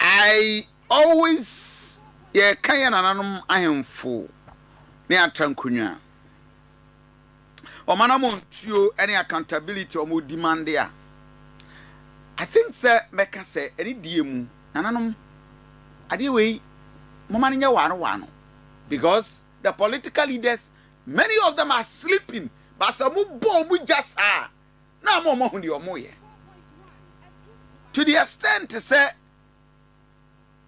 I always yɛka yɛn nananom ahemfo ne atankonwa, wɔn anamɔntuo ne accountability wɔn demande a, I think sɛ mɛka sɛ ɛne deɛ mu, nananom adeɛ wei momma no nyɛ waano waano because the political leaders many of them are sleeping but sɛ mobɔ wɔn gya saa a, na ama wɔahu deɛ wɔyɛ to the extent sɛ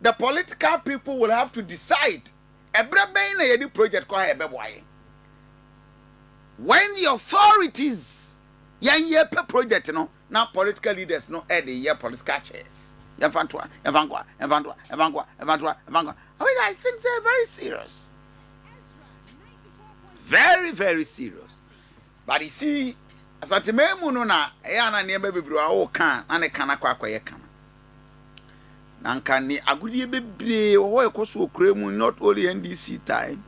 the political people will have to decide ɛberɛ bɛn na yɛde project kɔ ha yɛbɛboa yɛn when the authorities yɛn yɛpɛ project no na political leaders no ɛde yɛ political chairs yɛmfa ntoa yɛmfa nkoa yɛmfa ntoa yɛmfa nkoa yɛmfa ntoa yɛmfa nkoa which I think they're very serious very very serious But you see, Asanteman mu no na ɛyɛ a na nneɛma bebree wɔ hɔ a woka a na ne ka no akɔ akɔyɛ kama. Na anka ne agodeɛ bebree wɔ hɔ a ɛkɔ so wɔ kura mu not only NDC time.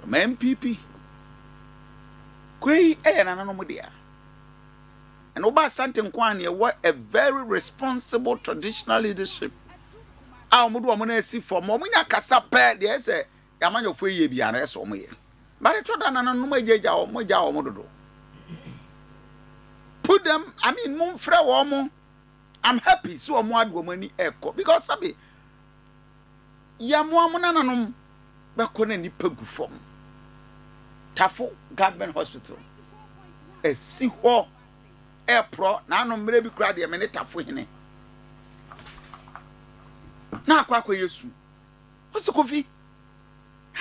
From NPP. Kura yi ɛyɛ nananom dea. And woba Asante nko a na ɛwɔ a very responsible traditional leadership a wɔde wɔn no asi fam. Wɔnya kasa pɛ deɛ ɛyɛ sɛ Y'amanyɔfoɔ yi yɛ biara ɛsɛ wɔn yɛ. But ɛtɔ da nana nom agyagya wɔn, mo gya wɔn dodo. Put them, I mean mo nfrɛ wɔn mo. I'm happy sɛ wɔn ade wɔn ani ɛkɔ because sabi yɛ mo a mo nana nom bɛkɔ na nipa gu fam. Tafo government hospital ɛsi hɔ ɛprɔ na ano mmerɛ bi kura deɛ me ne tafo hene na akɔ akɔ yɛ su. Ose Kofi,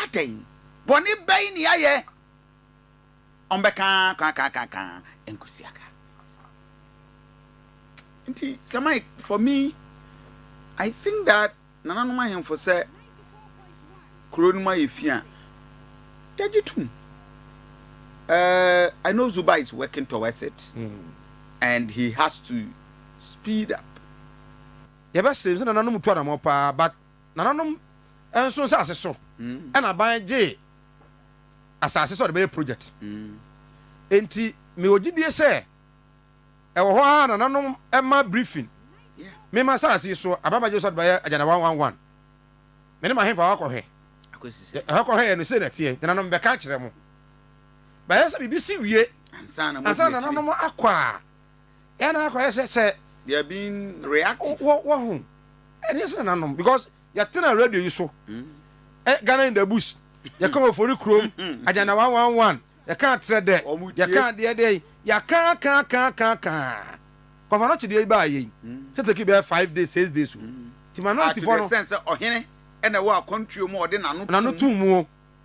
adɛn? Bɔne bɛn ne yɛayɛ? Ɔmbɛka kaakaakaaka nkosua ka. Nti Sir Mike, for me, I think that nananom ahemfo sɛ kuro no mu ayɛ fi a, yɛgye tom. Uh, I know Zuba is working towards it and he has to speed up. Yɛbɛsrɛ sɛ nananom tu anamɔ paa but Nananom nso nsase so na aban gyee asase sɛ ɔde bɛyɛ projɛt. Enti mewɔ gyidie sɛ ɛwɔ hɔ ara a nananom ma briefing me ma asase yi so aban bɛgye so sɛ ɔde bɛyɛ Agenda One One One. Me ne m'ahemfo a wɔakɔhwɛ ɛhɔ kɔhwɛeɛ no sei na ɛteɛ, nananom mebɛka akyerɛ mo. Bɛyɛ sɛ biribi si wie ansa na nananom akɔ a. Yɛ na akɔyɛ sɛ sɛ. They are being reactive. Wɔ wɔ ho. Ɛni ɛsɛ na nanom because yɛ tena radio yi so. Ɛ Ghana in the bush. Yɛ ka ofori kurom. Ajana one one one. Yɛ ka atrɛ dɛ. Yɛ ka deɛ deɛ yi. Yɛ ka ka ka ka ka. Kɔfa no kye deɛ yi baa yɛ yi. Sɛ teki bɛɛ five days six days o. Ti ma no ti fɔ no. Ah to the sense sɛ ɔhene ɛna ɛwɔ akwantuo mu a ɔde nano tum. Nano tum mu o.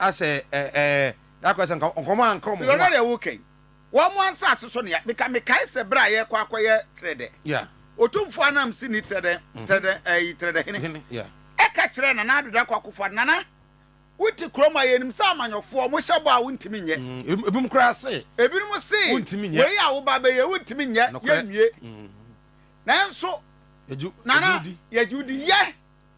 Asɛ ɛ ɛ ɛ akɔyɛ sɛ nka nkɔmɔ a nka ɔmo ho a. Lɔlɔ deɛ wo kɛn wɔn mo ansase so nea beka me kae sɛ bere a yɛkɔ akɔ yɛ trɛdɛ Yeah. Otumfoɔ Anamsi ni trɛdɛ trɛdɛ ɛyi trɛdɛ hene Hene yeah. ɛka kyerɛɛ Nana Addo Dankwa Akufo Addo Nana wo te kurom a yɛnim sɛ amanyɔfoɔ ɔmo hyɛ bɔ a wo ntumi nyɛ Mm ebi ebinom koraa se ebinom se wo ntumi nyɛ wei a wo ba bɛyɛ wo ntumi nyɛ Nokorɛ yɛnwie mm nanso yɛgye Nana yɛgye wo di yɛgye wo di yɛ.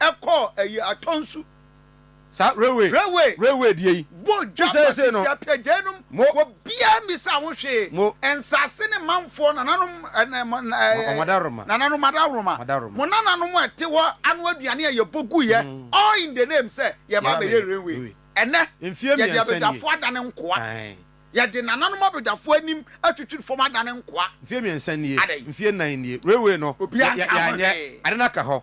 ɛkɔɔ ɛyi atɔ nsu. Saa railway railway railway deɛ yi. Bɔ dwa pate si apia gyae nom wɔ bia mmisa ho hwee nsase ne manfoɔ nananom nananom adaworoma mo nananom a ɛte hɔ ano aduane a yɛ bɔ gu yɛ all in the name sɛ yɛ ba bɛyɛ railway ɛnɛ yɛ de abadwafoɔ adane nkoa yɛ de nananom abadwafoɔ anim atwitwiri fam adane nkoa mfie mmiɛnsa nie adɛn mfie nnan nie railway no obi anka ho hwee ade no aka hɔ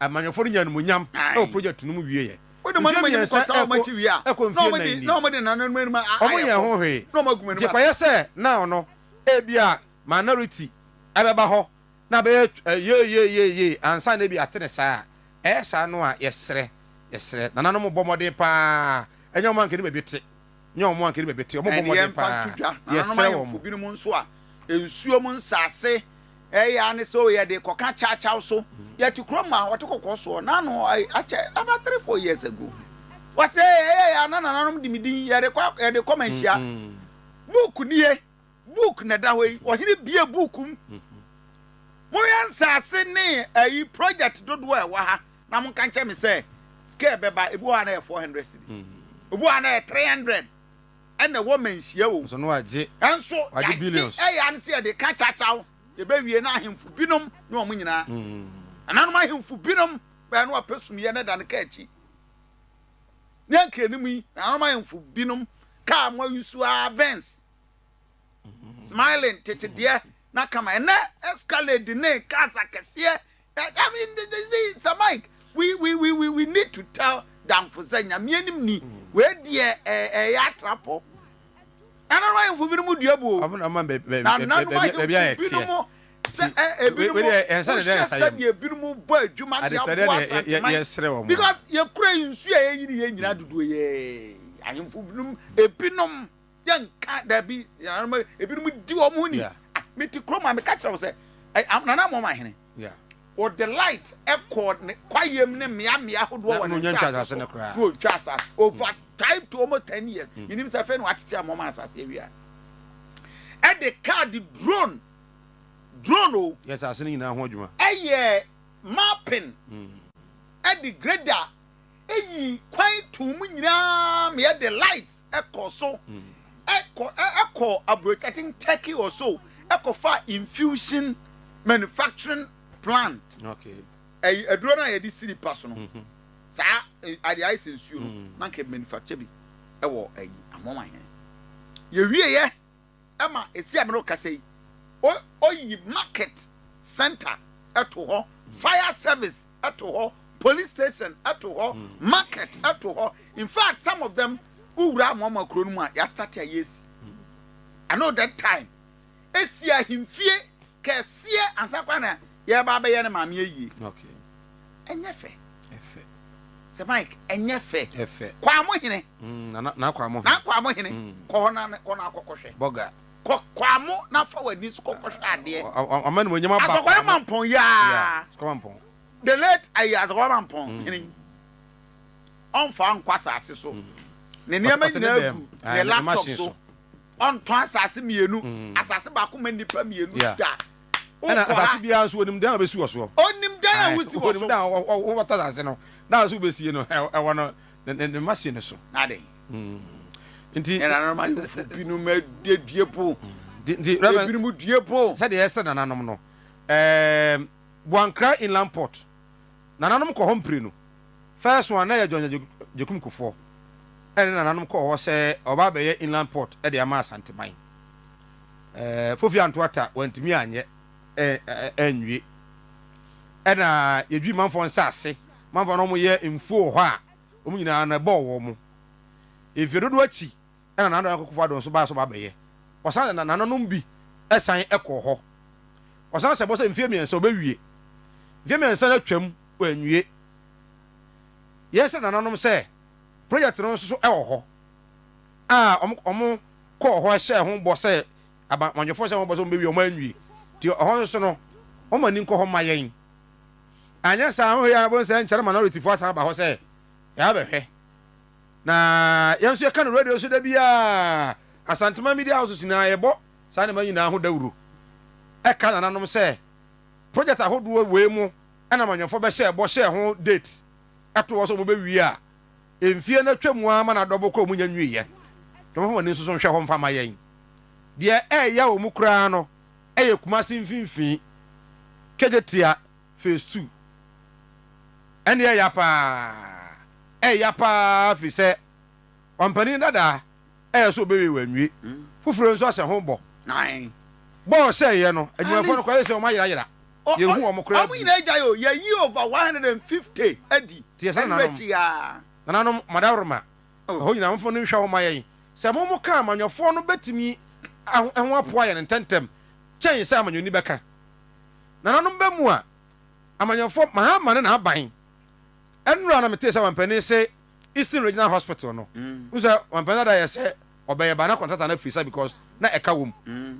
Amanyɔfoɔ no nyaa animuonyam wɔ project no mu wieɛ. Mfeɛ mmiɛnsa ɛrekɔ ɛrekɔ mfeɛ nnan ni, wɔnyɛɛ ho hwee, gye kɔyɛ sɛ now no ebia minority bɛba hɔ na abɛyɛ yeeyeeyeeyee ansa na ebia atene saa a. Ɛyɛ saa no a, yɛsrɛ, yɛsrɛ, nananom bɔ mmɔden pa ara, ɛnyɛ wɔn a nka anim abɛte. nyɛ wɔn anka ne baabi te, wɔbɔ mmɔden pa ara, yɛsrɛ wɔn. Ɛne yɛmfa nto dwa, nananom ahemfo binom nso a nsuo mu nsase ɛyɛ ara ne sɛ wɔyɛ de kɔka kyawkyaw so. Yɛte kurom mu a, wɔte kɔkɔɔ soɔ, na ano hɔ akyɛ, about three, four years ago, wɔse ɛyɛ yɛ a na nananom de me din, yɛde kɔ, yɛde kɔ manhyia. Book nie. Book na ɛda hɔ yi ɔhene bue book mu monhwɛ nsaase ne ayi project dodoɔ a ɛwɔ ha na monka nkyɛ me sɛ sika ɛbɛba ebi wɔ ha na ɛyɛ 400 cedis ebi wɔ ha na ɛyɛ 300 ɛna ɛwɔ manhyia o ɛnso yagye ɛyɛ ano sɛ yɛde ka kyakyaw yɛbɛwie na ahemfo binom ne wɔn nyinaa ɛnanom ahemfo binom bɛyɛ no apɛ sumyɛ na ɛda no ka akyi Ne nkanim yi, nanom ahemfo binom kaa mmoa yi nso ara Vence, Smiling, tete deɛ, na kama. Ɛnnɛ, Escalade ne cars akɛseɛ. I mean, Sir Mike, we, we, we, we, we need to tell Damfo sɛ Nyame anim ni, wei deɛ ɛyɛ atrapɔ. Na nananom ahemfo binom dua buu wɔn nananom ahemfo binom sɛ ebinom wohyɛ sɛdeɛ ebinom bɔ adwuma ne aboa asanteman because yɛkura nsuo a yɛyi ne yɛn nyinaa dodoɔ yɛ ahemfo binom ebinom yɛnka daabi nananom ebinom di wɔn ho ni mete kurom a meka kyerɛ wo sɛ nana mɔma ahene Wɔde light kɔɔ ne kwaeɛm ne mmeammea ahodoɔ wɔ ne nsaase so, na ɔtwaa asaase over time to almost ten years, menim sɛ afei na wɔakyekyere ama ɔma asaase awie a, ɛde kaa de drone, drone o, yɛɛ asaase no nyinaa ho adwuma, ɛyɛɛ mapping, ɛde grader, eyi kwan too mu nyinaa ma yɛde light kɔɔ so kɔ kɔɔ aburokyi, I think Turkey or so, kɔfaa infusion manufacturing plant. Okay. Ɛyi aduro no a yɛde si nipa so no. Mm-hmm. Saa ade ayɛ sɛ nsuo no, mm. na nka manufacture bi ɛwɔ ɛyi amoa hɛn. Yɛwieɛ ma esi a merekasa yi, oyi market centre to hɔ, fire service to hɔ, police station to hɔ, market to hɔ, infact some of them wowura amoamoa kuro no mu a yɛastate a yɛresi. I know that time esi ahemfie kɛseɛ ansa koraa na Yɛreba abɛyɛ ne maame ayie. Ɛnyɛ fɛ. Sɛ Mike, ɛnyɛ fɛ. Kwamo hene. Nana Kwamo hene. Nana Kwamo hene. Kɔ hɔ na kɔ na akɔkɔ hwɛ. Bɔga. Kɔ Kwamo na fa w'ani so kɔkɔ hwɛ adeɛ. Ɔma ne monyam aba Kwamo. Asɔkɔrɔ Mampɔn yaa. Asɔkɔrɔ Mampɔn. The late ayi Asɔkɔrɔ Mampɔn hene. Ɔnfa nkɔ asase so. Ne nneɛma nyinaa gu ne laptop so. Ɔntɔn asase mmienu. Asase baako ma nnipa mmienu da. Ɛna asase biara nso onim dan a obesi wɔ soɔ. Onim dan a wosi wɔ so. Onim dan a wɔbɛtɔ asase no, dan a nso wobesie no ɛwɔ no ne ne machine no so. N'ade. Hmm. Nti. Nananom ayɔfo binom adue po. Nti nti Reverend. Ebinom due po. Sɛdeɛ ɛsɛ nananom no, ɛɛm Buankra Inland Port. Nananom kɔ hɔ mprenu. First one na ɛyɛ John Agyekum Kufuor ɛna ne nananom kɔɔ hɔ sɛ ɔba abɛyɛ inland port de ama Asanteman. Ɛɛ Fofi Anto Atta wantumi anyɛ anwie. Ɛna yɛdwi manfoɔ nsaase, manfoɔ no wɔyɛ mfuo wɔ hɔ a wɔn nyinaa no ɛbɔɔ wɔn. Mfeɛ dodoɔ akyi ɛna Nana Akufo-Addo nso baa so ba bɛyɛ. Ɔsan na nananom bi san kɔɔ hɔ. Ɔsan hyɛ bɔ sɛ mfeɛ mmiɛnsa ɔbɛwie. Mfeɛ mmiɛnsa no atwam, wanwie. Yɛsrɛɛ nananom sɛ project no nso so wɔ hɔ a wɔn wɔn kɔɔ hɔ hyɛɛ ho bɔ sɛ aba amannyɔfoɔ hyɛɛ ho bɔ sɛ wɔn bɛwie wɔn anwie nti ɛhɔ nso no wɔn ani nkɔ hɔ mma yɛn. Anyɛ saa wohwɛ yie a wobɛhu sɛ nkyɛre manorityfoɔ asan aba hɔ sɛ yɛabɛhwɛ. Na yɛn nso yɛka no radio so da biara. Asanteman media houses nyinaa yɛbɔ saa nneɛma nyinaa ho dawuro ka nananom sɛ project ahodoɔ wei mu na amanyɔfoɔ bɛhyɛɛ bɔ hyɛɛ ho date to hɔ sɛ wɔbɛwie a mfie no atwa mu ara ma no adɔbo kɔ wɔn nya nwieɛ. Nti wɔmfa wɔn ani nso so nhwɛ hɔ mfa ma yɛn. Deɛ ɛreya wɔn koraa no yɛ Kumasi mfimfini, Kejetia. phase two ɛne ɛya paa ɛya paa firi sɛ ɔmpanin dadaa ɛyɛ so ɔbɛwie wanwie foforɔ nso ahyɛ ho bɔ bɔ ɔhyɛeɛ no adwumafoɔ no kɔyɛ sɛ wɔn ayerayera yɛhu wɔn koraa bio teɛ sɛ nananom nananom madaworoma ɛhɔ nyina mfo no nhwɛ ho ma yɛn sɛ mo mo ka amanyɔfoɔ no bɛtumi ɛho apoa yɛn ntɛntɛm kyɛn sɛ amanyɔni bɛka. Nananom ba mu a amanyɔfoɔ Mahama ne n'aban Nnora na metee sɛ mampanin se Eastern Regional Hospital no wohu sɛ mampanin dada yɛ sɛ ɔbɛyɛ ba na contractor no afiri sa because na ɛka wɔ mu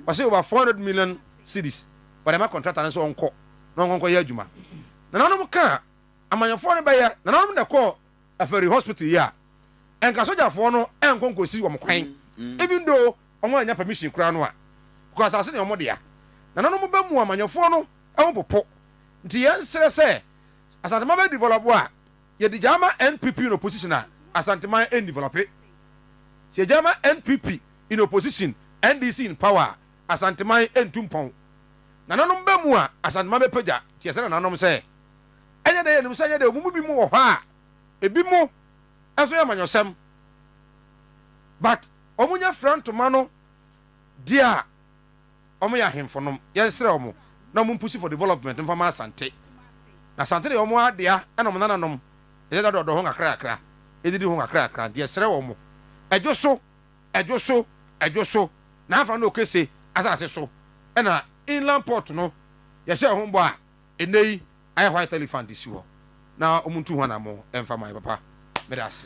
ɔse over four hundred million cedis wɔde ama contractor no sɛ ɔnkɔ na ɔnkɔ nkɔyɛ adwuma Nananom kaa amanyɔfoɔ no bɛyɛ Nananom na ɛkɔɔ Aferi hospital yi a nka sogyafoɔ no nkɔ nkosi wɔn kwan even though wɔn annya permission koraa no a because asase no yɛ wɔn dea. Nananom ba mu amanyɔfoɔ no ho popo nti yɛn srɛ sɛ Asanteman bɛ develop a yɛ de gyaa ma NPP in opposition a Asanteman ɛn develope. Sɛ yɛ gyaa ma NPP in opposition NDC in power a Asanteman ɛntu mpɔn. Nananom ba mu a Asanteman bɛ pagya nti yɛ srɛ nananom sɛ. Ɛnyɛ dɛ yɛnim sɛ ɛnyɛ dɛ, wɔn mu binom wɔ hɔ a, ebinom nso yɛ amanyɔsɛm, but wɔnyɛ fira ntoma no deɛ a, wɔyɛ ahemfo nom. Yɛnsrɛ wɔn na wɔn mpusi for development mfa ma Asante. Na Asante deɛ wɔn adea na wɔn nananom yɛ dada dɔdɔ ho kakra kakra, yɛdidi ho kakra kakra, nti yɛsrɛ wɔn, ɛdwo so, ɛdwo so, ɛdwo so, na afra no Okese asase so, ɛna Inland Port no yɛhyɛ ho bɔ a, Ɛnɛ yi ayɛ hɔ a telephone de si hɔ na ɔmo ntu ho anamɔn ɛnfa ma yɛn papa meda ase.